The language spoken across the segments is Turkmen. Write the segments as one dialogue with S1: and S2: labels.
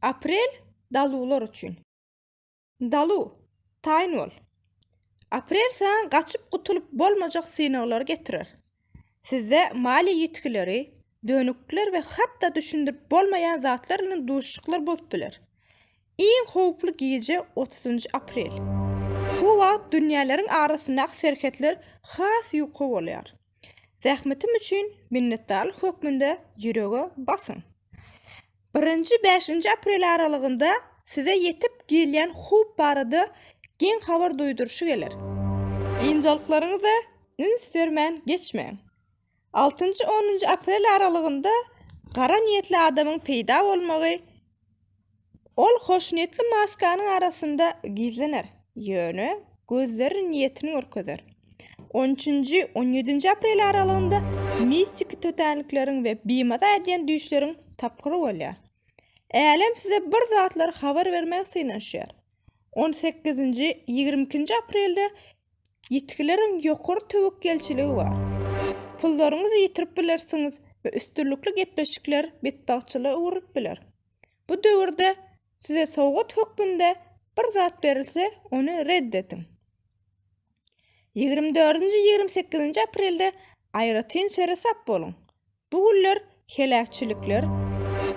S1: Aprel daluwlar üçin. Dalu, taýyn bol! Aprel saňa gaçyp gutulyp bolmajak synaglary getirer. Sizde maliýe ýitgileri, dönüklikler we hatda düşündirip bolmaýan zatlar bilen duşuşyklar bolup biler. Iň howply gije otuzynjy aprel. Şu wagt dünýäleriň arasyndaky serhetler has ýuka bolýar. Zähmetim üçin minnetdarlyk hökmünde ýürege basyň. Birinji bäşinji aprel aralygynda size ýetip gelýän howp barada geň habar duýduryşy geler. Ynjalyklaryňyza üns bermän geçmäň. Altynjy-onunjy aprel aralygynda gara niýetli adamyň peýda bolmagy Ol hoşniýetli maskanyň arasynda gizlener, ýöne gözleri niýetini görkezer. On üçünji, on ýedinji aprel aralygynda mistiki tötänlikleriň we bimaza edýän düýşleriň tapgyry bolýar. Älem size bir zatlar habar bermäge synanyşýar. On sekizinji, ýigrimi ikinji aprelde ýitgileriň ýokary töwekgelçiligi bar. Pullaryňyzy ýitirip bilersiňiz we üstünlikli gepleşikler betbagtçylyga öwrülip biler. Bu döwürde size sowgat hökmünde bir zat berilse, ony red ediň. Ýigrimi dördünji, ýigrimi sekizinji aprelde aýratyn seresap boluň. Bu günler heläkçilikler,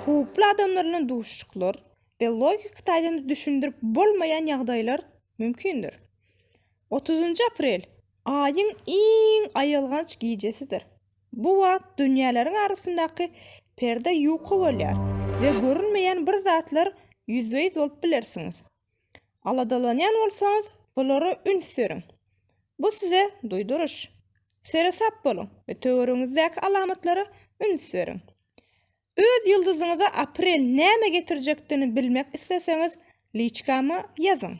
S1: howply adamlar bilen duşuşyklar we logiki taýdan düşündirip bolmaýan ýagdaýlar mümkindir. Otuzynjy aprel, Aýyň iň aýylganç gijesidir. Bu wagt dünýäleriň arasyndaky perde ýuka bolýar we görünmeýän bir zatlar ýüzbe-ýüz bolup bilersiňiz. Aladalanýan bolsaňyz, bulara üns beriň. Bu size duýduryş. Seresap boluň we töweregiňizdäki alamatlara üns beriň. Öz ýyldyzyňyza aprel näme getirjekdigini bilmek isleseňiz, liçkama ýazyň.